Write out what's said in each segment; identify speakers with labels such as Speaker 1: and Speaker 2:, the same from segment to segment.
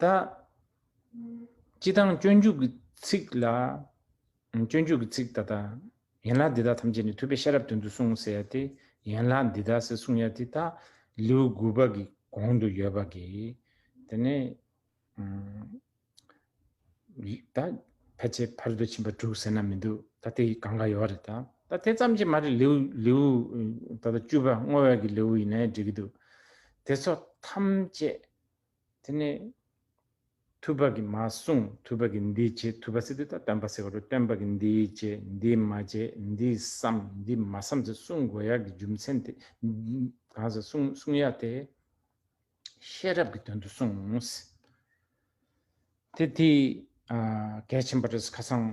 Speaker 1: ད། སྤྱི་དང་སྤྱོད་འཇུག་གི་ཚིག་ལ། སྤྱོད་འཇུག་གི་ཚིག་ད་ལྟ། ཡན་ལག་འདི་དག་ཐམས་ཅད་ནི་ཐོས་པའི་ཤེས་རབ་དོན་དུ་གསུངས་ཟེར་ཡ་སྟེ། ཡན་ལག་འདི་དག་ཟེར་གསུངས་ཡ་དེ་དག་ལེའུ་དགུ་པ་གི་གོང་དུ་ཡོད་པ་གི། དེ་ནས། ད་ཕལ་ཆེར་ཕར་འདོད་ཕྱིན་པ་དྲུག་ཟེར་ན་མི་འདུག་ད་དེ་གང་ག་ཡོད་རེད་ད། ད་དེ་ཙམ་གྱིས་མ་རེད་ལེའུ་ལེའུ་ད་ལྟ་བཅུ་པ་བསྔོ་བས་ཀྱི་ལེའུ་ཡིན་ནའི་འགྲིག་གི་འདུག་དེ་ཚོ་ཐམས་ཅད། དེ་ནས་ཐུབ་པ་གྱིས་མ་གསུངས་ཐུབ་པ་གྱིས་འདི་བྱེད་ཐུབ་པ་ཟེར་དུས་ད་སྟོན་པ་ཟེར་བ་རུ་སྟོན་པ་གྱིས་འདི་བྱེད་འདི་མ་བྱེད་འདི་བསམ་འདི་མ་བསམ་ཟེར་གསུང་དགོས་ཡག་གི་རྒྱུ་མཚན་དེ་གང་ཟེར་གསུང་གསུང་ཡག་དེ། ཤེས་རབ་ཀྱི་དོན་དུ་གསུངས། དེ་དེས་གལ་ཆེན་པ་རེད་ཁ་སང་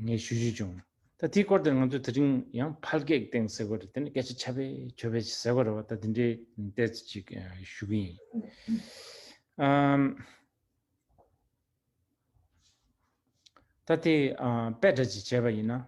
Speaker 1: ངས་ཞུ་རྒྱུ་བྱུང། ད་དེའི་སྐོར་དེར་ང་ཚོས་དེ་རིང་ཡང་ཕལ་སྐད་སྟེང་ཟེར་བ་རེད་དེ་ནི་སྐད་ཆ་ཆ་བེ་ཆོ་བེ་ཟེར་བ་རེད་བ་ད་དེ་འདྲའི་བལྟས་ཚེ་ཅིག་ཞུ་གི་ཡིན། ད་དེ་དཔེ་སྒྲ་ཅིག་བྱས་པ་ཡིན་ན།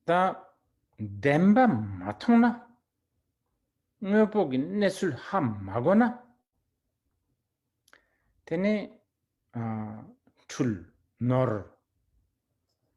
Speaker 1: བདེན་པ་མ་མཐོང་ན། དངོས་པོ་གི་གནས་ཚུལ་ཧ་མ་གོ་ན། དེ་ནི། འཁྲུལ། ནོར།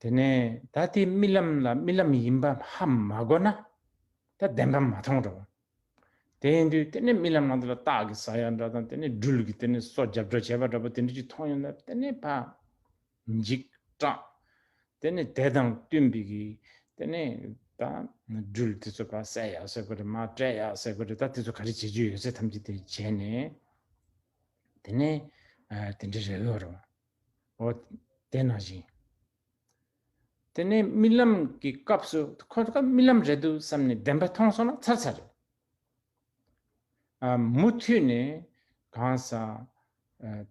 Speaker 1: དེ་ནས་ད་དེའི་རྨི་ལམ་ལ་རྨི་ལམ་ཡིན་པ་ཧ་མ་གོ་ན། ད་བདེན་པ་མ་མཐོང་འགྲོ། དེ་ཡིན་དུས་དེ་ནས་རྨི་ལམ་ནང་དུ་ལ་སྟག་གི་ཟ་ཡག་འདྲ་དང་དེ་ནས་སྦྲུལ་གྱི་དེ་ནས་སོ་རྒྱབ་འདྲ་བྱེད་པ་འདྲ་པོ་དེ་འདྲ་ཅིག་མཐོང་ཡོང་ན་དེ་ནས་ཕ། འཇིགས་སྐྲག། དེ་ནས་དེ་དང་བསྟུན་པའི་གི་དེ་ནས་ད་སྦྲུལ་དེ་ཚོ་ཕ་བསད་ཡག་ཟེར་དགོས་རེད་མ་བསྐྲད་ཡག་ཟེར་དགོས་རེད་ད་དེ་ཚོ་ག་རེ་བྱེད་རྒྱུ་ཡོད་ཚད་ཐམས་ཅད་དེ་བྱས་ནས་དེ་ནས་དེ་འདྲ་རེད་ལོ་རེད་བ། འོ། དེ་ནང་བཞིན། དེ་ནས་རྨི་ལམ་གྱི་སྐབས་སུ་ཁོ་དགའ་རྨི་ལམ་རེད་འདུག་བསམ་ནས་བདེན་པ་མཐོང་སོང་ན་ཚར་ཚར་རེད། མུ་མཐུད་ནས་གང་སང།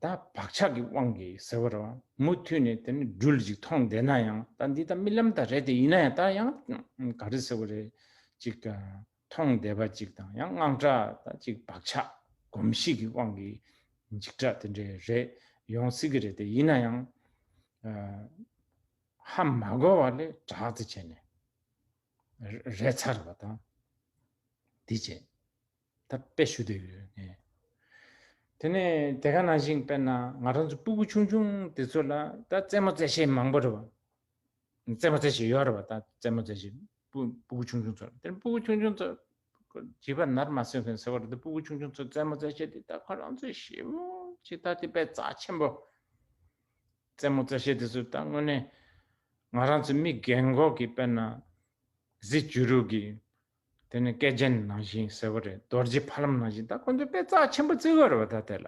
Speaker 1: ད་བག་ཆགས་ཀྱི་དབང་གིས་ཟེར་བ་རེད། མུ་མཐུད་ནས་དེ་ནས་སྦྲུལ་ཅིག་མཐོང་བསྡད་ན་ཡང་ད་འདི་ད་རྨི་ལམ་དག་རེད་དེ་ཡིན་ན་ཡང་ད་ཡང་ག་རེ་ཟེར་བ་རེད་ཅིག། མཐོང་བདེ་བ་ཅིག་དང་ཡང་སྔགས་འདྲ་དང་གཅིག་བག་ཆགས་གོམས་གཤིས་ཀྱི་དབང་གིས་འཇིགས་སྐྲག་དེ་འདྲའི་རེ་ཡོང་སྲིད་ཀྱི་རེད་དེ་ཡིན་ན་ཡང། ཧ་མ་གོ་བ་ལས་དྲག་དེ་བྱས་ནས་རེ་ཚར་བ་དང། དེ་བྱས་ད་དཔེ་ཞུ་འདོད་ཡོད་ངེས། དེ་ནས་དེ་ག་ནང་བཞིན་དཔེར་ན་ང་རང་ཚོ་སྤུ་བུ་ཆུང་ཆུང་དེ་ཚོ་ལ་ད་རྩེད་མོ་རྩེད་བྱེད་མང་པོ་རེད་བ། རྩེད་མོ་རྩེད་བྱེད་ཡོད་རེད་བ་ད་རྩེད་མོ་རྩེད་བྱེད་སྤུ་གུ་ཆུང་ཆུང་ཚོར་དེར་སྤུ་གུ་ཆུང་ཆུང་ཚོ། བྱིས་པ་ནར་མ་སོན་མཁན་ཟེར་བ་རེད་དེ་སྤུ་གུ་ཆུང་ཆུང་ཚོས་རྩེད་མོ་རྩེད་ཤེས་དེ་ད་ཁོ་རང་ཚོས་ཞིབ་མོ་ཞིག་ལྟ་དེ་དཔེ་རྩ་ཆེན་པོ། རྩེད་མོ་རྩེ་ཤེས་དེ་ཚོས་ད་དངོས་གནས་ང་རང་ཚོའི་མི་རྒན་འགོག་གི་དཔེར་ན། གཟི་བྱུ་རུ་གི། དེ་ནས་སྐེ་རྒྱན་ནང་བཞིན་ཟེར་བ་རེད་རྡོ་རྗེ་ཕ་ལམ་ནང་བཞིན་ད་ཁོ་ཚོས་དཔེ་རྩ་ཆེན་པོ་རྩེ་གི་ཡོད་རེད་བ་ད་དེ་ལ།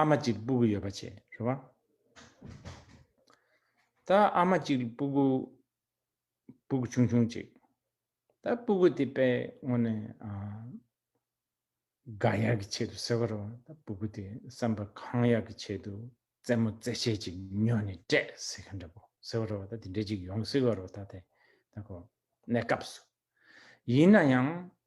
Speaker 1: ཨ་མ་གཅིག་སྤུ་གུ་ཡོད་པ་བྱས་རེད་བ། ད་ཨ་མ་གཅིག་སྤུ་གུ་སྤུ་གུ་ཆུང་ཆུང་ཅིག། ད་སྤུ་གུ་དེ་པའི་ངོ་ནས་དགའ་ཡག་གི་ཆེད་དུ་ཟེར་བ་རེད་བ། ད་སྤུ་གུ་དེ་བསམ་པ་གང་ཡག་གི་ཆེད་དུ་རྩེད་མོ་རྩེད་ཆས་ཅིག་ཉོས་ནས་སྤྲད་ཟེར་གི་འདྲ་པོ་ཟེར་བ་རེད་བ་ད་དེ་འདྲ་ཅིག་ཡོང་སྲིད་བ་རེད་བ་ད་དེ་ད་གོ་གནས་སྐབས་སུ། ཡིན་ན་ཡང་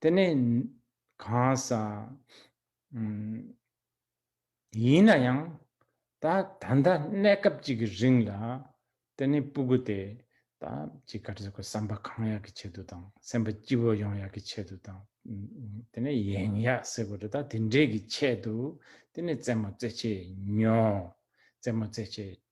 Speaker 1: དེ་ནི་གང་ཟག་ཡིན་ན་ཡང་ད་ད་ལྟ་གནས་སྐབས་ཅིག་གི་རིང་ལ་དེ་ནི་སྤུ་གུ་དེ་ད་ཅིག་གར་ཟེར་གོ་བསམ་པ་གང་ཡག་གི་ཆེད་དུ་དང་སེམས་པ་སྐྱིད་པོ་ཡོང་ཡག་གི་ཆེད་དུ་དང་དེ་ནི་ཡེངས་ཡག་ཟེར་གོ་རེ་ད་དེ་འདྲས་ཀྱི་ཆེད་དུ་དེ་ནི་རྩེད་མོ་རྩེ་བྱེད་ཉོ་རྩེད་མོ་རྩེ་བྱེད་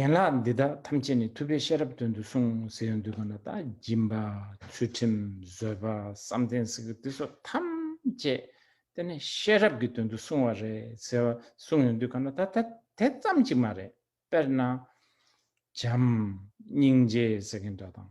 Speaker 1: ཡན་ལག་འདི་དག་ཐམས་ཅད་ནི་ཐུབ་པའི་ཤེས་རབ་དོན་དུ་གསུངས་ཟེར་ཡང་འདོད་པ་ན་དང་སྦྱིན་པ་ཚུལ་ཁྲིམས་བཟོད་པ་བསམ་གཏན་གཟི་ཀི་ཏི་སོགས་ཐམས་ཅད་དེ་ནི་ཤེས་རབ་ཀྱི་དོན་དུ་གསུངས་བ་རེད་ཟེར་བ་གསུངས་ཡང་འདོད་ག་ན་ད་དེ་ཙམ་གཅིག་མ་རེད་དཔེར་ན། བྱམས་སྙིང་རྗེ་ཟེར་མཁན་འདྲ་དང།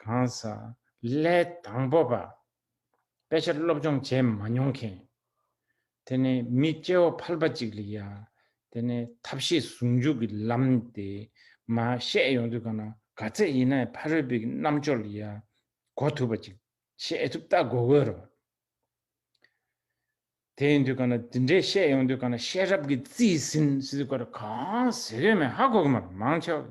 Speaker 1: གང་ཟག་ལས་དང་པོ་པ། དཔེ་ཆ་སློབ་སྦྱོང་བྱས་མ་མྱོང་མཁན། དེ་ནི་མི་སྐྱེ་བོ་ཕལ་པ་གཅིག་ལ་ཡང་དེ་ནི་ཐབས་ཤེས་ཟུང་འཇུག་གི་ལམ་དེ་མ་ཤེས་ཡོང་དུས་གང་ན་ག་ཚད་ཡིན་ནའི་ཕ་རོལ་པོའི་རྣམ་དཔྱོད་ལ་ཡང་གོ་ཐུབ་པ་ཅིག་ཤེས་ཐུབ་ལྟ་དགོས་དགོས་རེད། དེ་ཡིན་དུས་གང་ན་དེ་འདྲའི་ཤེས་ཡོང་དུས་གང་ན་ཤེས་རབ་ཀྱི་རྩིས་ཟིན་གང་ཟེར་གོ་མེད་ཧ་གོ་གི་མ་རེད་མང་ཆེ་བ།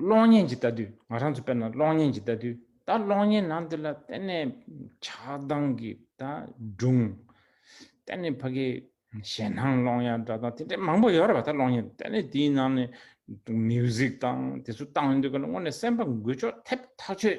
Speaker 1: གློག་བརྙན་གྱི་ལྟ་དུས་ང་རང་ཚོ་དཔེར་ན་གློག་བརྙན་གྱི་ལྟ་དུས་ད་གློག་བརྙན་ནང་འདི་ལ་གཏན་ནས་ཆགས་སྡང་གི་ད་སྒྲུང། གཏན་ནས་ཕ་གི་ཞེད་སྣང་སློང་ཡ་འདྲ་དང་དེ་འདྲ་མང་པོ་ཡོད་རེད་པ་ད་གློག་བརྙན་གཏན་ནས་དེའི་ནང་ནས་མིའུ་ཟིག་དང་དེ་ཚོ་བཏང་ཡོད་འདུག་ག་ལ་དངོས་ནས་སེམས་པ་འགུལ་ཆོག་ཐེབས་ཐག་ཆོད་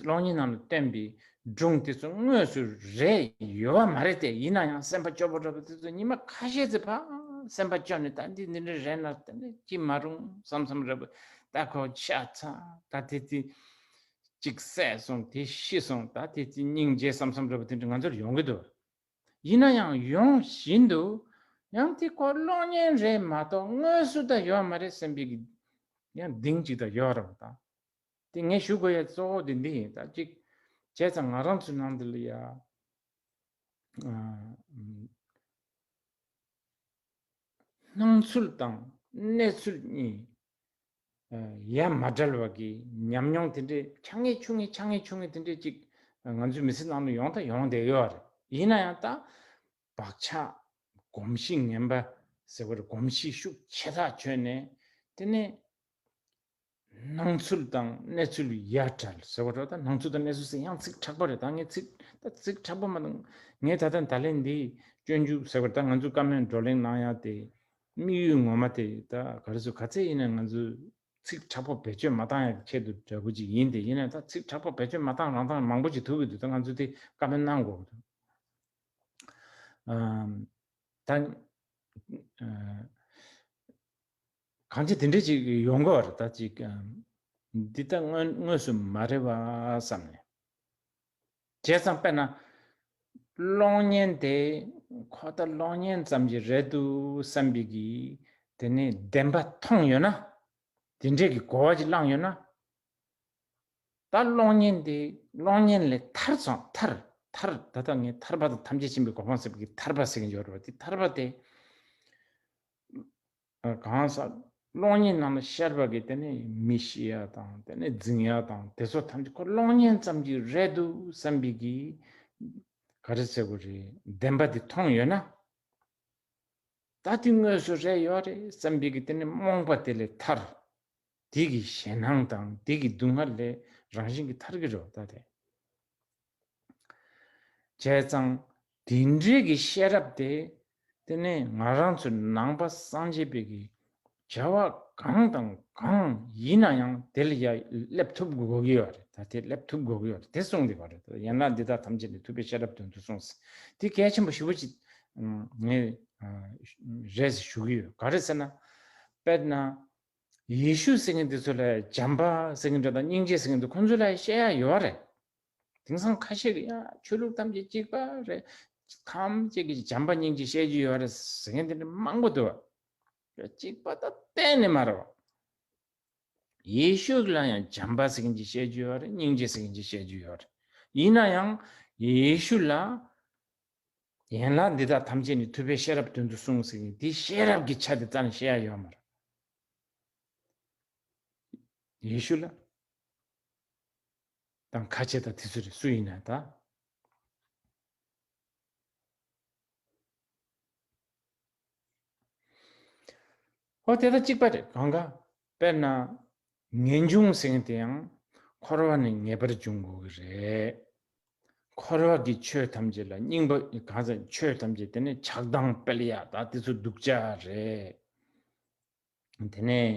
Speaker 1: གློག་བརྙན་ནང་དུ་བསྟན་པའི་སྒྲུང་དེ་ཚོ་དངོས་སུ་རེད་ཡོད་པ་མ་རེད་དེ་ཡིན་ན་ཡང་སེམས་པ་སྐྱོ་པོ་འདྲ་པོ་དེ་ཚོ་ཉི་མ་ཁ་ཤས་ཚོའི་བར་སེམས་པ་སྐྱོ་ནས་ད་འདི་འདི་འདྲ་རེད་ན་ད་འདི་ཅི་མ་རུང་བསམ་བསམ་རེད་པོ་ད་ཁོ་ཤ་ཚ་ད་དེ་དེ་གཅིག་བསད་སོང་དེ་ཤི་སོང་ད་དེ་དེ་སྙིང་རྗེ་བསམ་བསམ་རེད་པོ་དེ་འདྲ་ང་ཚོར་ཡོང་གི་འདུག་ཡིན་ན་ཡང་ཡོང་བཞིན་འདུག་ཡང་དེ་ཁོ་གློག་བརྙན་རེད་མ་གཏོགས་དངོས་སུ་ད་ཡོད་མ་རེད་སེམས་པའི་ཡང་གདིང་གཅིག་ད་ཡོད་རེད་པོ་ད། དེ་ངས་ཞུ་དགོས་ཡ་གཙོ་བོ་དེ་འདི་ཡིན་ད་གཅིག་བྱས་ཙང་ང་རང་ཚོའི་ནང་དུ་ལ་ཡ་སྣང་ཚུལ་དང་གནས་ཚུལ་གཉིས་ཡ་མ་འདྲལ་བ་གི་ཉམས་མྱོང་དེ་འདྲའི་ཆ་ངེས་ཆུ་ངེས་ཆ་ངེས་ཆུ་ངེས་དེ་འདྲའི་གཅིག་ང་ཚོའི་མི་ཚེ་ནང་དུ་ཡོང་དང་ཡོང་བསྡད་ཡོད་བ་རེད་ཡིན་ན་ཡང་ད་བག་ཆགས་གོམས་གཤིས་ངན་པ་ཟེར་བ་རེད་གོམས་གཤིས་ཤུགས་ཆེ་ཐག་ཆོད་ནས་དེ་ནས་སྣང་ཚུལ་དང་གནས་ཚུལ་གཡའ་བྲལ་ཟེར་བ་འདྲ་ད་སྣང་ཚུལ་དང་གནས་ཚུལ་ཟེར་ཡང་ཚིག་དྲག་པ་རེད་ད་ངས་ཚིག་ད་ཚིག་དྲག་པོ་མ་ད་ངས་ད་ལྟ་ད་ལན་འདི་སྤྱོད་འཇུག་ཟེར་བར་ད་ང་ཚོས་བཀའ་མོལ་བགྲོ་གླེང་གནང་ཡ་དེ་དམིགས་ཡུལ་ངོ་མ་དེ་ད་ག་རེ་ཟོ་ག་ཚད་ཡིན་ན་ང་ཚོས་ཚིག་དྲག་པོ་བེད་སྤྱོད་མ་བཏང་ཡ་གི་ཁྱད་དུ་འདྲ་པོ་ཅིག་ཡིན་དེ་ཡིན་ན་ད་ཚིག་དྲག་པོ་བེད་སྤྱོད་མ་བཏང་རང་བཏང་མང་པོ་ཅིག་ཐུག་གི་འདུག་ད་ང་ཚོས་དེ་བཀའ་མོལ་གནང་དགོས་འདུག་ད། གང་ཅི་དེ་འདྲས་ཅིག་ཡོང་གི་བ་རེད་ད་ཅིག་འདི་ལྟ་དངོས་སུ་མ་རེད་བ་བསམ་ནས། བྱས་ཙང་དཔེར་ན། གློག་བརྙན་དེ་ཁོ་ད་གློག་བརྙན་ཙམ་གྱི་རེད་འདུག་བསམ་པའི་གི་དེ་ནས་བདེན་པ་མཐོང་ཡོད་ན། དེ་འདྲས་གི་གོ་བ་ཅིག་བླངས་ཡོད་ན། ད་གློག་བརྙན་དེ་གློག་བརྙན་ལས་ཐར་སོང་ཐར་ཐར་ད་ལྟ་ངས་ཐར་པ་དང་ཐམས་ཅད་ཕྱིན་པའི་གོ་འཕང་ཟེར་བའི་གི་ཐར་པ་ཟེར་གི་འཇོག་རེད་བ་དེ་ཐར་པ་དེ། གང་ཟག་གློག་བརྙན་རྣམས་ལ་ཤར་བ་གིས་དེ་ནི་མི་ཤེས་ཡ་དང་དེ་ནི་རྫིང་ཡ་དང་དེ་ཚོ་ཐམས་ཅད་ཁོ་གློག་བརྙན་ཙམ་གྱིས་རེད་འདུག་བསམ་པའི་གི། ག་རེ་ཟེར་དགོས་རེད་བདེན་པ་དེ་མཐོང་ཡོད་ན། ད་དེ་དངོས་སུ་རེད་ཡོད་རེད་བསམ་པའི་གི་དེ་ནི་རྨོངས་པ་དེ་ལས་ཐར། དེ་གི་ཞེན་སྣང་དང་དེ་གི་སྡུག་བསྔལ་ལས་རང་བཞིན་གྱིས་ཐར་གི་རེད་བ་ད་དེ། བྱས་ཙང། དེ་འབྲེལ་གྱི་ཤེས་རབ་དེ། དེ་ནི་ང་རང་ཚོའི་ནང་པ་སངས་རྒྱས་པའི་གི་བྱ་བ་གང་དང་གང་ཡིན་ན་ཡང་དེ་ལ་ཡང་སླེབས་ཐུབ་དགོས་ཀྱི་ཡོད་རེད་ད་དེ་སླེབས་ཐུབ་དགོས་ཀྱི་ཡོད་རེད་དེ་གསུངས་ཀྱི་ཡོད་རེད་ད་ཡན་ལག་འདི་དག་ཐམས་ཅད་ནི་ཐུབ་པའི་ཤེས་རབ་དོན་དུ་གསུངས་ཟིན་དེ་གལ་ཆེན་པོ་ཞི་བོ་ཅིག་ངས་རེད་ཟེར་ཞུ་གི་ཡོད་ག་རེད་ཟེར་ན། དཔེར་ན། ཡེ་ཤུ་ཟེར་མཁན་དེ་ཚོ་ལ་བྱམས་པ་ཟེར་མཁན་དེ་དང་སྙིང་རྗེ་ཟེར་མཁན་དེ་ཁོང་ཚོ་ལ་ཤེས་ཡ་ཡོད་རེད། དེང་སང་ཁ་ཤས་ཀྱི་ཡང་ཆོས་ལུགས་ཐམས་ཅད་གཅིག་པ་རེད། ཐམས་ཅད་ཀྱི་བྱམས་པ་སྙིང་རྗེ་བཤད་རྒྱུ་ཡོད་རེད་ཟེར་མཁན་དེ་འདྲ་མང་པོ་འདུག། གཅིག་པ་དང་གཏན་ནས་མ་རེད། ཡེ་ཤུ་ལ་ཡང་བྱམས་པ་ཟེར་མཁན་གྱི་བཤད་རྒྱུ་ཡོད་རེད་སྙིང་རྗེ་ཟེར་མཁན་གྱི་བཤད་རྒྱུ་ཡོད་རེད། ཡིན་ན་ཡང་ཡེ་ཤུ་ལ་ཡན་ལག་འདི་དག་ཐམས་ཅད་ནི་ཐུབ་པའི་ཤེས་རབ་དོན་དུ་གསུངས་ཟེར་མཁན་དེ་ཤེས་རབ་ཀྱི་ཆ་དེ་རྩ་ནས་ཤེས་ཡ་ཡོད་མ་རེད། ཡེ་ཤུ་ལ། དང་ཁ་ཆེ་དང་དེ་ཚོ་རེད་སུ་ཡིན་ན་ད། ཨོ་དེ་ད་གཅིག་པ་རེད་གང་གཱ་དཔེར་ན་ངེས་འབྱུང་ཟེར་དེ་ཡང་འཁོར་བ་ནས་ངེས་པར་འབྱུང་དགོས་ཀྱི་རེད། འཁོར་བ་གི་ཆོས་ཐམས་ཅད་ལ་སྙིང་པོ་གང་ཟེར་ཆོས་ཐམས་ཅད་དེ་ནི་ཆགས་སྡང་དཔལ་ཡག་དང་དེ་ཚོ་གདུག་ཅག་རེད། དེ་ནས་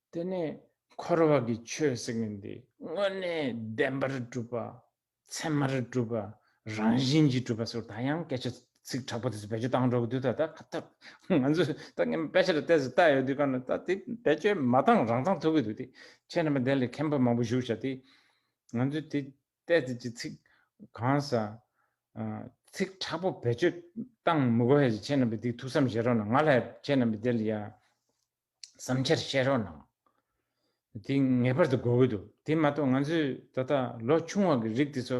Speaker 1: དེ་ནས་འཁོར་བ་ཀྱི་ཆོས་སེམས་ཀྱི་འདི་དངོས་གནས་བདེན་པར་སྒྲུབ་པ། མཚན་མར་སྒྲུབ་པ། རང་བཞིན་གྱིས་སྒྲུབ་པ་སོགས་ད་ཡང་སྐད་ཆ་ཚིག་དྲག་པོ་དེ་ཚོ་བེད་སྤྱོད་བཏང་འགྲོ་གི་འདུག་ད་ད་ད་ང་ཚོས་ད་ངའི་དཔེ་ཆ་ལ་བལྟས་སུ་བལྟ་ཡོད་དུས་ཀ་ན་ད་དེ་བེད་སྤྱོད་མ་བཏང་རང་བཏང་ཐུབ་ཀྱི་འདུག་དེ་ཁྱེད་རྣམ་པ་དེ་ལས་མཁན་པོ་མང་པོ་བཞུགས་བྱ་དེ་ང་ཚོས་དེ་བལྟས་ཚེ་ཅི་ཚིག་གང་ཟ་ཚིག་དྲག་པོ་བེད་སྤྱོད་བཏང་མི་དགོས་ཡ་ཁྱེད་རྣམ་པས་དེ་ཐུགས་བསམ་བཞེས་རོགས་གནང་ང་ལ་ཡ་ཁྱེད་རྣམ་པས་དེ་ལ་ཡ། བསམ་འཆར་བཤད་རོགས་གནང། དེ་ངེས་པར་དུ་དགོས་ཀྱི་འདུག་དེ་མ་གཏོགས་ང་ཚོས་ད་ལྟ་ལོ་ཆུང་བ་གི་རིགས་དེ་ཚོ།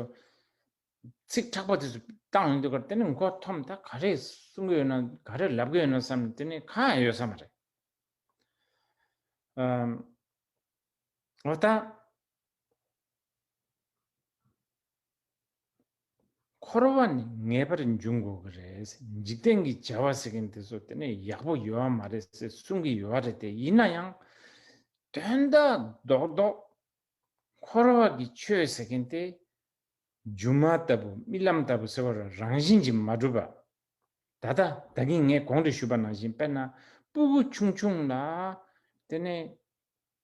Speaker 1: ཚིག་དྲག་པོ་དེ་ཚོ་བཏང་ཡོང་དུས་ཀར་དེ་ནི་མགོ་འཐོམ་ད་ག་རེ་གསུང་གི་ཡོད་ན་ག་རེ་ལབ་ཀྱི་ཡོད་ན་བསམ་ནས་དེ་ནི་གང་ཡང་ཡོད་ས་མ་རེད། འོ་ད། འཁོར་བ་ནི་ངེས་པར་འབྱུང་དགོས་ཀྱི་རེད། འཇིག་རྟེན་གྱི་བྱ་བ་ཟེར་མཁན་དེ་ཚོ་དེ་ནས་ཡག་པོ་ཡོད་བ་མ་རེད་ཟེར་གསུང་གི་ཡོད་རེད་དེ་ཡིན་ན་ཡང། དོན་དག་རྡོག་རྡོག། འཁོར་བ་གྱི་ཆོས་ཟེར་མཁན་དེ། སྒྱུ་མ་ལྟ་བུ་རྨི་ལམ་ལྟ་བུ་ཟེར་བ་ར་རང་བཞིན་གྱིས་མ་གྲུབ་པ། ད་ལྟ་བདག་གིས་ངས་གོང་དུ་ཞུས་པ་ནང་བཞིན་དཔེར་ན་སྤུ་གུ་ཆུང་ཆུང་ལ། དེ་ནས།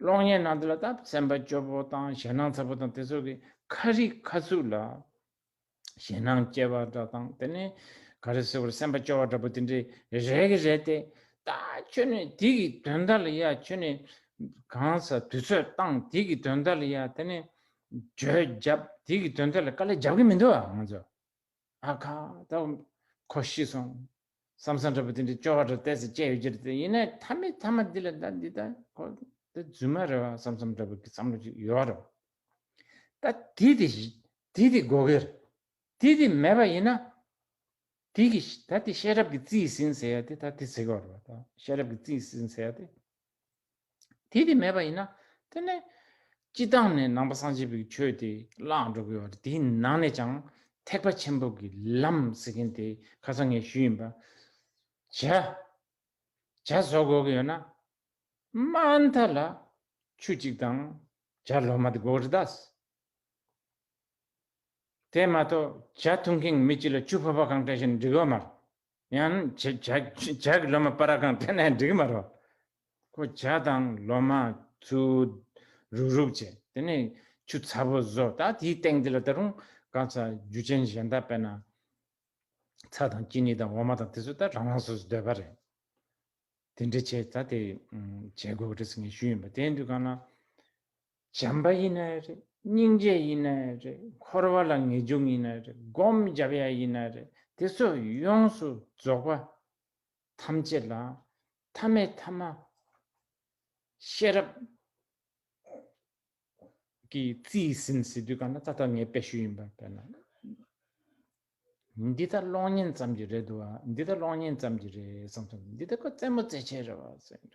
Speaker 1: གློག་བརྙན་ནང་དུ་ལ་དྭགས་བཙན་པ་སྐྱོ་པོ་དང་ཞེད་སྣང་ཚ་པོ་དང་དེ་ཚོ་གི་ཁ་རིག་ཁ་ཚུགས་ལ་ཞེད་སྣང་སྐྱེ་བ་འདྲ་དང་དེ་ནས་ག་རེ་སོ་ག་རེ་སེམས་པ་སྐྱོ་བ་འདྲ་པོ་དེ་འདྲའི་རེ་གི་རེད་དེ་ད་ཁྱོད་ནས་དེ་གི་དོན་དག་ལ་ཡ་ཁྱོད་ནས་གང་ས་དུས་ཚོད་བཏང་དེ་གི་དོན་དག་ལ་ཡ་དེ་ནས་བརྗོད་བརྒྱབ་དེ་གི་དོན་དག་ལ་དཀའ་ལས་བརྒྱབ་གི་མི་འདུག་ཨ་ང་ཚོ་ཨ་ཁ་ད་ཁོ་ཤི་སོང་བསམ་བསམ་འདྲ་པོ་དེ་འདྲའི་སྐྱོ་བ་འདྲ་བལྟས་ཚེ་དཔྱད་ཡོད་ཀྱི་རེད་ཡིན་ནའི་མཐའ་མི་མཐའ་མ་འདི་ལ་ད་འདི་ལྟ་ཁོ་ད་རྫུན་མ་རེད་བ་བསམ་བསམ་འདྲ་པོ་གི་བསམ་བློ་ཅིག་ཡོད་རེད་བ། ད་དེ་དེ་དེ་དེ་དགོས་གི་རེད་དེ་དེ་མེད་པ་ཡིན་ན། དེ་གི་ད་དེ་ཤེས་རབ་ཀྱི་རྩིས་ཟིན་ཟེར་ཡ་དེ་ད་དེ་ཟེར་གི་རེད་བ། ད་ཤེས་རབ་ཀྱི་རྩིས་ཟིན་ཟེར་ཡ་དེ། དེ་དེ་མེད་པ་ཡིན་ན་དེ་ནི་སྤྱི་དང་ནས་ནང་པ་སངས་རྒྱས་པའི་ཆོས་དེ་བླངས་འགྲོ་དགོས་བར་དེའི་ནང་ནས་ཀྱང་ཐེག་པ་ཆེན་པོ་གི་ལམ་ཟེར་མཁན་དེ་ཁ་ཚ་ངན་ཤུལ་ཡིན་པ། བྱ། བྱ་བཟོ་དགོས་ཀྱི་ཡོད་ན་དམའ་མཐའ་ལ་ཆུ་གཅིག་དང་བྱ་ལོ་མ་དེ་དགོས་རེད་དཱ། དེ་མ་གཏོགས་བྱ་འཐུང་མཁན་མི་གཅིག་ལ་ཆུ་ཕོར་པ་གང་སྤྲད་བཞིན་འགྲིག་ཡོད་མ་རེད། ཡང་ཇག་གི་ལོ་མ་པ་ར་གང་ཐེ་ནའི་འགྲིག་མ་རོ། ཁོ་ཇག་དང་ལོ་མ་ཚུ་རུག་རུག་བྱས་དེ་ནས་ཆུ་ཚ་པོ་བཟོ་ད་དེའི་སྟེང་དེ་ལ་ད་རུང་ག་ཚ་རྒྱུ་ཅན་གཞན་དག་པས་ན་ཚ་དང་ཅི་ནི་དང་འོ་མ་དང་དེ་ཚོ་ད་རང་རང་སོ་སོ་སྡོད་པ་རེད། དེ་འདྲ་བྱས་ད་དེ་བྱས་དགོས་པ་རེད་ཟེར་ངས་ཞུས་ཡིན་པ་དེའི་དུས་གང་ན་བྱམས་པ་ཡིན་ནའི་རེད་སྙིང་རྗེ་ཡིན་ནའི་རེད་འཁོར་བ་ལ་ངེས་འབྱུང་ཡིན་ནའི་རེད་སྒོམ་རྒྱབ་ཡ་ཡིན་ནའི་རེད་དེ་ཚོ་ཡོངས་སུ་རྫོགས་པ་ཐམས་ཅད་ལ་མཐའ་མེད་ཐ་མ་ཤེས་རབ་ཀྱི་རྩིས་ཟིན་ཟེར་དུས་གང་ན་ད་ལྟ་ངའི་དཔེ་ཞུས་ཡིན་པ་དཔེར་ན་འདི་ལྟར་ལོག་ཉེན་ཙམ་གྱི་རེད་འདུག་ཨ་འདི་ལྟར་ལོག་ཉེན་ཙམ་གྱི་རེད་བསམ་སོང་འདི་ལྟར་ཁོ་རྩེད་མོ་རྩེ་ཆེད་རེད་བ་སེམས།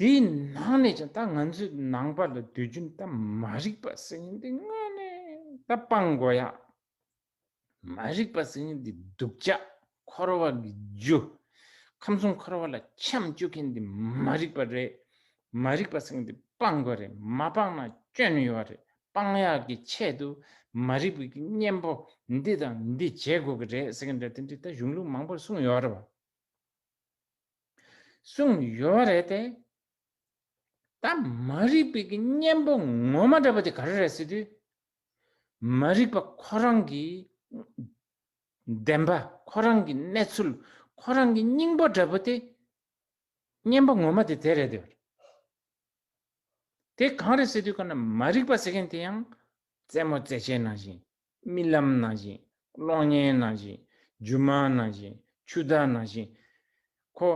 Speaker 1: དེའི་ནང་ནས་ཀྱང་ད་ང་ཚོས་ནང་པ་ལ་སྡོད་རྒྱུ་ད་མ་རིག་པ་ཟེར་ཉིན་དེ་དངོས་གནས་ད་སྤང་དགོས་ཡ། མ་རིག་པ་ཟེར་ཉིན་དེ་སྡུག་ཅག་འཁོར་བ་གི་རྒྱུ། ཁམས་གསུམ་འཁོར་བ་ལ་ཁྱམས་བཅུག་མཁན་དེ་མ་རིག་པ་རེད། མ་རིག་པ་ཟེར་མཁན་དེ་སྤང་དགོས་རེད་མ་སྤང་ན་སྐྱོན་ཡོད་རེད་སྤང་ཡ་གི་ཆེད་དུ་མ་རིག་པའི་གཉེན་པོ་འདི་དང་འདི་བྱེད་དགོས་གི་རེད་ཟེར་མཁན་དེ་འདྲ་དེ་འདྲ་ད་གཞུང་ལུགས་མང་པོར་གསུངས་ཡོད་རེད་བ། གསུངས་ཡོད་བ་རེད་དེ། ད་མ་རིག་པའི་གི་གཉེན་པོ་ངོ་མ་འདྲ་བ་དེ་ག་རེ་རེད་ཟེར་དུས། མ་རིག་པ་ཁོ་རང་གི་བདེན་པ་ཁོ་རང་གི་གནས་ཚུལ་ཁོ་རང་གི་སྙིང་པོ་འདྲ་བོ་དེ་གཉེན་པོ་ངོ་མ་དེ་དེ་རེད་དེ། དེ་གང་རེད་ཟེར་དུས་ཁོ་ན་མ་རིག་པ་ཟེར་མཁན་དེ་ཡང་རྩེད་མོ་རྩེད་བྱེད་ནང་བཞིན་རྨི་ལམ་ནང་བཞིན། གློག་བརྙན་ནང་བཞིན། རྒྱུ་མ་ནང་བཞིན། ཆུ་ཟླ་ནང་བཞིན། ཁོ།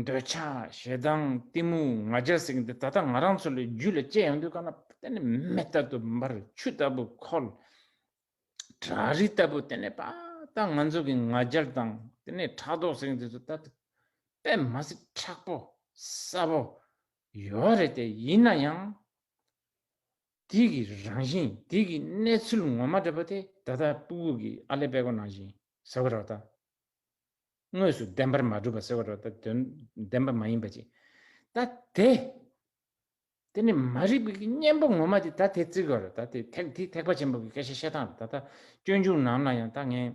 Speaker 1: འདོད་ཆགས་ཞེ་སྡང་གཏི་མུག་ང་རྒྱལ་སྲེག་འདི་ད་ལྟ་ང་རང་ཚོ་ལ་རྒྱུད་ལ་སྐྱེ་ཡོང་དུས་གང་ན་བལྟས་ནས་མེ་ལྟ་བུ་འབར་ཆུ་ལྟ་བུ་འཁོལ། བྲག་རི་ལྟ་བུ་དེ་ནས་པདྨ་ང་ཚོ་གི་ང་རྒྱལ་དང་དེ་ནས་ཕྲག་དོག་སྲེག་འདི་ཚོ་ད་ལྟ་པད་མ་སྲིད་ཕྲག་པོ་གསལ་པོ་ཡོད་རེད་དེ་ཡིན་ན་ཡང། དེ་གི་རང་བཞིན་དེ་གི་གནས་ཚུལ་ངོ་མ་འདྲ་པོ་དེ་ད་ལྟ་སྤུ་བོ་གི་ཨ་ལས་པད་གོ་ནང་བཞིན་ཟེར་བ་རོགས་ད། དངོས་སུ་བདེན་པར་མ་གྲུབ་པ་ཟེར་བ་རོགས་ད་དོན་བདེན་པ་མ་ཡིན་པ་ཅིག་ད་དེ། དེ་ནི་མ་རིག་པའི་གི་གཉེན་པོ་ངོ་མ་དེ་ད་དེ་བརྩི་དགོས་རོགས་ད་དེ་ཐེག་དེ་ཐེག་པ་ཆེན་པོ་གི་སྐད་ཆ་བཤད་སྟངས་རོགས་ད་ད་སྐྱོན་བྱུང་ནམ་ན་ཡང་ད་ངས།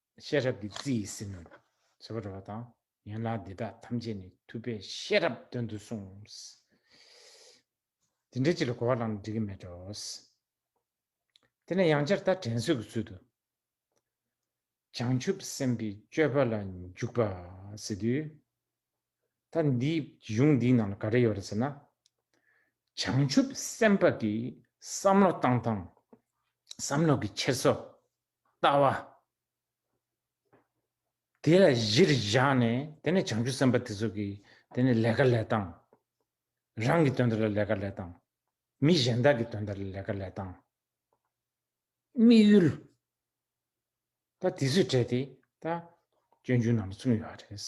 Speaker 1: ཤེས་རབ་ཀྱི་རྩི་ཡིས་ཟིན་ནོ། ཞེས་པ་འགྲོ་བ་དང་ཡན་ལག་འདི་དག་ཐམས་ཅད་ནི་ཐུབ་པས་ཤེས་རབ་དོན་དུ་གསུངས། འདི་འདྲའི་ཕྱིར་ལ་གོ་བ་བླངས་ན་འགྲིག་གི་མེད་དོ། དེ་ནས་ཡང་ཅར་ལྟར་དྲན་གསོས་ཀྱི་ཚུལ་དུ། བྱང་ཆུབ་སེམས་དཔའི་སྤྱོད་པ་ལ་འཇུག་པ་ཟེར་དུས། ད་འདིའི་གཞུང་འདིའི་ནང་ལ་ག་རེ་ཡོད་རེད་ཟེར་ན། བྱང་ཆུབ་སེམས་དཔའ་གྱི་བསམ་བློ་བཏང་སྟངས་བསམ་བློ་གྱི་འཁྱེར་སོ། ལྟ་བ། དེ་ལ་གཞིར་བཞག་ནས་དེ་ནས་བྱང་ཆུབ་སེམས་དཔའ་དེ་ཚོ་གིས་དེ་ནས་ལས་ཀ་ལས་དང། རང་གི་དོན་དག་ལ་ལས་ཀ་ལས་དང། མི་གཞན་དག་གི་དོན་དག་ལ་ལས་ཀ་ལས་དང། དམིགས་ཡུལ། ད་དེ་ཚོས་བྲལ་ཏེ་ད། སྤྱོད་འཇུག་རྣམས་ལ་བརྩོན་ཡོད་པ་རེད།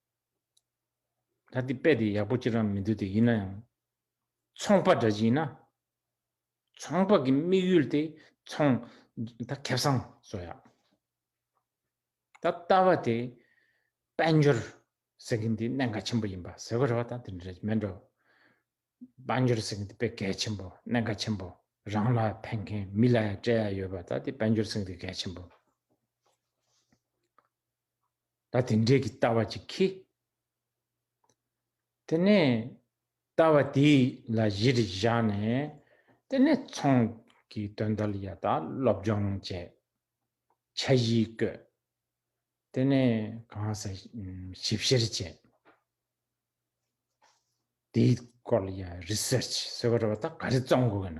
Speaker 1: ད་དེ་དཔེ་དེ་ཡག་པོ་ཅི་རང་མི་འདུག་དེ་ཡིན་ན་ཡང། ཚོང་པ་འདྲ་ཞིག་ཡིན་ན། ཚོང་པ་གི་དམིགས་ཡུལ་དེ་ཚོང། ད་ཁེབས་སང་བཟོ་ཡག། ད་ལྟ་བ་དེ། དཔལ་འབྱོར། ཟེར་གིན་དེ་གནད་འགག་ཆེན་པོ་ཡིན་པ་ཟེར་གི་རེད་བ་ད་དེ་འདྲ་རེད་མེད་འགྲོ། དཔལ་འབྱོར་ཟེར་གིན་དེ་དཔེ་གལ་ཆེན་པོ་གནད་འགག་ཆེན་པོ་རང་ལ་ཕན་མཁན་མི་ལ་ཡང་སྤྲད་ཡག་ཡོད་བ་ད་དེ་དཔལ་འབྱོར་ཟེར་གིན་དེ་གལ་ཆེན་པོ། ད་དེ་འདྲས་ཀྱི་ལྟ་བ་ཅིག་གིས། དེ་ནས་ལྟ་བ་དེ་ལ་གཞི་རིགས་བཞག་ནས་དེ་ནས་ཚོང་གི་དོན་དག་ལ་ཡང་དག་སློབ་སྦྱོང་བྱས། འཆར་གཞི་བཀོད། དེ་ནས་གང་ས་ཞིབ་བཤེར་བྱས། དེའི་སྐོར་ལ་ཡང Research ཟེར་བ་རེད་བ་ད་ག་རེ་བརྩམ་དགོས་ཀྱི་ན།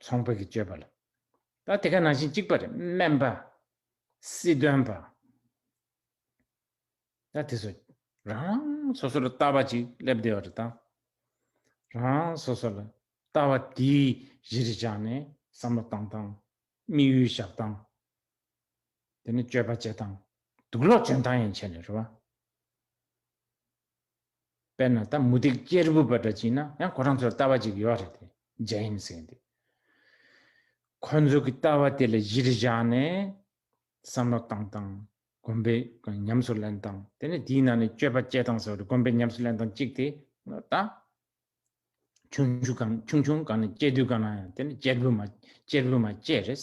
Speaker 1: ཚོང་པ་གིས་སྤྱོད་པ་ལ། ད་དེ་ག་ནང་བཞིན་གཅིག་པ་རེད་སྨན་པ། སྲིད་དོན་པ། ད་དེ་ཚོ་རང་རང་སོ་སོ་ལ་ལྟ་བ་ཅིག་སླེབས་བསྡད་པ་རེད་ད། རང་རང་སོ་སོ་ལ་ལྟ་བ་དེ་གཞི་རུ་བཞག་ནས་བསམ་བློ་བཏང་སྟངས་དམིགས་ཡུལ་བཞག་སྟངས། དེ་ནས་སྤྱོད་པ་བྱེད་སྟངས། དུག་ལོག་འཇོན་སྟངས་ཡང་བྱས་ནས་རེད་བ། དཔེར་ན་ད་མུ་ཏིག་གཅེར་བུ་པ་འདྲ་བྱིན་ན་ཡང་ཁོ་རང་ཚོར་ལྟ་བ་ཅིག་ཡོད་རེད་དེ་རྒྱ་ཡིན་ཟེར་འདུག་ཁོ་ཚོ་གི་ལྟ་བ་དེ་ལ་གཞིར་བཞག་ནས་བསམ་བློ་བཏང་དང་གོམ་པའི་ཉམས་སུ་ལེན་དང་དེ་ནས་དེའི་ནང་ནས་སྤྱོད་པ་སྤྱད་དང་ཟེར་བ་དེ་གོམ་པའི་ཉམས་སུ་ལེན་དང་གཅིག་དེ་ད་ཆུང་ཆུང་གང་ནས་སྤྱད་དུས་གང་ན་ཡང་དེ་ནས་གཅེར་བུ་མ་གཅེར་བུ་མ་བཅས་རེད།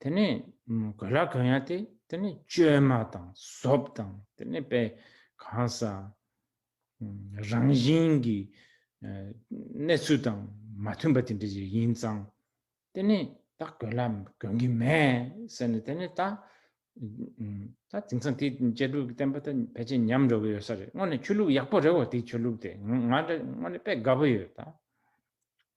Speaker 1: དེ་ནས་གོས་ལྭ་གང་ཡང་སྟེ་དེ་ནས་བཅོས་མ་དང་གཟོབ་དང་དེ་ནས་པའི་གང་ཟག་རང་བཞིན་གྱི་གནས་ཚུལ་དང་མ་མཐུན་པ་དེ་འདྲ་ཞིག་ཡིན་ཙང་དེ་ནས་ད་གོས་ལྭ་གོན་གྱི་མེད་ཟེར་ནས་དེ་ནས་ད་ད་དེང་སང་དེ་བཅད་སྒྲུབ་ཀྱི་བསྟན་པ་ད་ཕལ་ཆེར་ཉམས་འགྲོ་གི་ཡོད་ས་རེད་དངོས་ནས་ཆོས་ལུགས་ཡག་པོ་རེད་བ་དེ་ཆོས་ལུགས་དེ་ང་འདྲ་དངོས་ནས་དཔེ་དགའ་པོ་ཡོད་ད།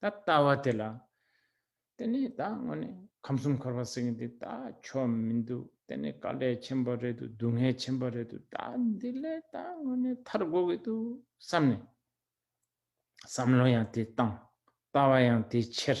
Speaker 1: ད་ལྟ་བ་དེ་ལ། དེ་ནས་ད་དངོས་ནས་ཁམས་གསུམ་འཁོར་བ་ཟེར་མཁན་དེ་ད་ཆོས་མི་འདུག་དེ་ནི་དཀའ་ལས་ཆེན་པོ་རེད་འདུག་སྡུག་བསྔལ་ཆེན་པོ་རེད་འདུག་ད་འདི་ལས་ད་དངོས་ནས་ཐར་དགོས་ཀྱི་འདུག་བསམ་ནས། བསམ་བློ་ཡང་དེ་བཏང། ལྟ་བ་ཡང་དེ་ཕྱིར།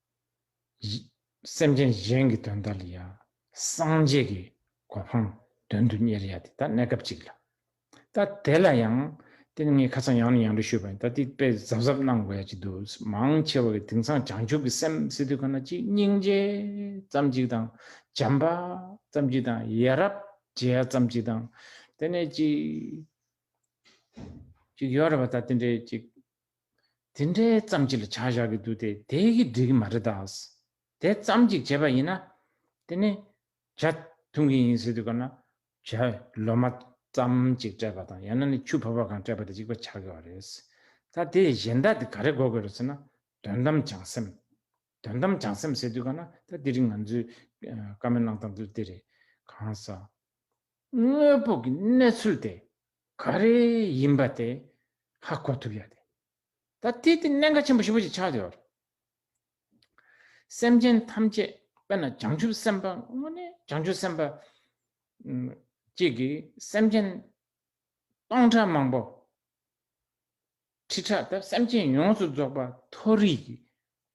Speaker 1: བཞི། སེམས་ཅན་གཞན་གྱི་དོན་དག་ལ་ཡང་སངས་རྒྱས་ཀྱི་གོ་འཕང་དོན་དུ་གཉེར་ཡ་དེ་ད་གནས་སྐབས་གཅིག་ལ། ད་དེ་ལ་ཡང། དེ་ནི་ངས་ཁ་ཚང་ཡང་ནས་ཡང་དུ་ཤོད་པ་ཡིན་ད་དེ་དཔེ་གཟབ་གཟབ་གནང་དགོས་ཡ་གཅིག་འདུག་མང་ཆེ་བ་གི་དེང་སང་བྱང་ཆུབ་ཀྱི་སེམས་སི་ཏུ་ཁ་ན་གཅིག་སྙིང་རྗེ་ཙམ་གཅིག་དང་བྱམས་པ་ཙམ་གཅིག་དང་ཡ་རབས་བྱེད་ཡ་ཙམ་གཅིག་དང་དེ་ནས་གཅིག་གཅིག་ཡོད་རེད་པ་ད་དེ་འདྲའི་གཅིག། དེ་འདྲའི་ཙམ་གཅིག་ལ་བྱ་བཞག་གི་འདུག་སྟེ་དེ་ཡི་གེ་འབྲི་གི་མ་རེད་ད། དེ་ཙམ་གཅིག་བྱས་པ་ཡིན་ན། དེ་ནི་བྱ་འཐུང་གི་ཡིན་ཟེར་དུས་སྐབས་ན། བྱ་ལོ་མ་ཙམ་གཅིག་སྤྲད་པ་དང་ཡང་ན་ནི་ཆུ་བབས་པ་གང་སྤྲད་པ་དེ་གཅིག་པ་བྱ་དགོས་བ་རེད། ད་དེ་ཡི་གཞན་དག་དེ་ག་རེ་གོ་དགོས་རེད་ཟེར་ན། དོན་དམ་བྱང་སེམས། དོན་དམ་བྱང་སེམས་ཟེར་དུས་སྐབས་ན་ད་དེ་རིང་ང་ཚོས་བཀའ་མོལ་གནང་སྟངས་དུ་དེ་རེད། གང་ཟག། དངོས་པོ་གི་གནས་ཚུལ་དེ་ག་རེ་ཡིན་པ་དེ་ཧ་གོ་ཐུབ་ཡོད་དེ། ད་ལྟའི་དེ་གནད་འགག་ཆེན་པོ་བཞི་པོ་ཞིག་ཆགས་ཡོད་རེད། སེམས་ཅན་ཐམས་ཅད་དཔེར་ན་བྱང་ཆུབ་སེམས་དཔའ་དངོས་ནི་བྱང་ཆུབ་སེམས་དཔའ་གཅིག་གིས་སེམས་ཅན་སྟོང་ཕྲག་མང་པོ་ཁྲི་ཕྲག་དང་སེམས་ཅན་ཡོངས་སུ་རྫོགས་པ་མཐོ་རིས་ཀྱི་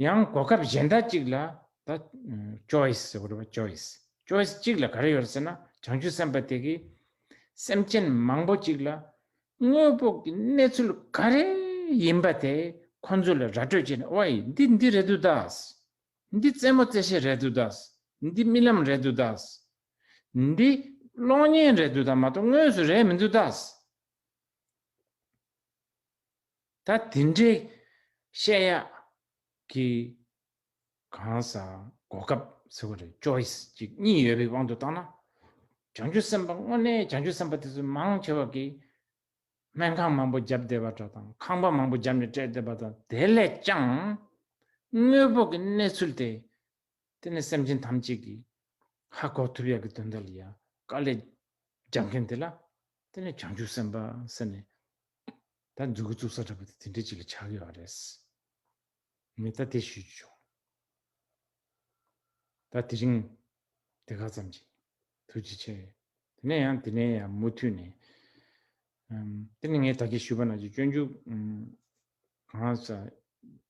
Speaker 1: ཡང་གོ་སྐབས་གཞན་དག་ཅིག་ལ་ད choice འོ་རེད་པ choice choice གཅིག་ལ་ག་རེ་ཡོད་ཟེར་ན་བྱང་ཆུབ་སེམས་དཔའ་དེ་གིས་སེམས་ཅན་མང་པོ་ཅིག་ལ་དངོས་པོ་གི་གནས་ཚུལ་ག་རེ་ཡིན་པ་དེ་ཁོ་ཚོ་ལ་ར་སྤྲོད་བྱས་ནས་ཨོའི་འདི་འདི་རེད་འདུག་ད། འདི་རྩེད་མོ་རྩེ་བྱེད་རེད་འདུག་ད། འདི་རྨི་ལམ་རེད་འདུག་ད། འདི་གློག་བརྙན་རེད་འདུག་ད་མ་གཏོགས་དངོས་སུ་རེད་མི་འདུག་ད། ད་དེ་འདྲའི་བཤད་ཡག་གི་གང་ཟག་གོ་སྐབས་ཟེར་བ་རེད choice གཅིག་གཉིས་ཡོད་པའི་དབང་དུ་བཏང་ན། བྱང་ཆུབ་སེམས་དཔའ་དངོས་གནས་བྱང་ཆུབ་སེམས་དཔའ་དེ་ཚོ་མང་ཆེ་བ་གིས་སྨན་ཁང་མང་པོ་བརྒྱབ་བསྡད་པ་འདྲ་དང་ཁང་པ་མང་པོ་བརྒྱབ་ནས་སྤྲད་བསྡད་པ་དང་དེ་ལས་ཀྱང་དངོས་པོ་གི་གནས་ཚུལ་དེ་དེ་ནས་སེམས་ཅན་ཐམས་ཅད་ཀྱིས། ཧ་གོ་ཐུབ་ཡག་གི་དོན་དག་ལ་ཡ། དཀའ་ལས། རྒྱག་མཁན་དེ་ལ། དེ་ནས་བྱང་ཆུབ་སེམས་དཔའ་ཟེར་ནས། ད་རྫུན་གྱི་བཙུགས་ས་འདྲ་པོ་དེ་དེ་འདྲས་ཅིག་ལ་ཆགས་ཀྱི་ཡོད་རེད། ངས་ད་དེ་ཞུས་ཀྱི་བྱུང། ད་དེ་རིང། དེ་ག་ཙམ་གྱིས། ཐུགས་རྗེ་ཆེ། དེ་ནས་ཡང་དེ་ནས་ཡང་མུ་མཐུད་ནས། དེ་ནས་ངས་ད་གེ་ཞུས་པ་ན་ཅིག་སྤྱོད་འཇུག། གང་ལགས།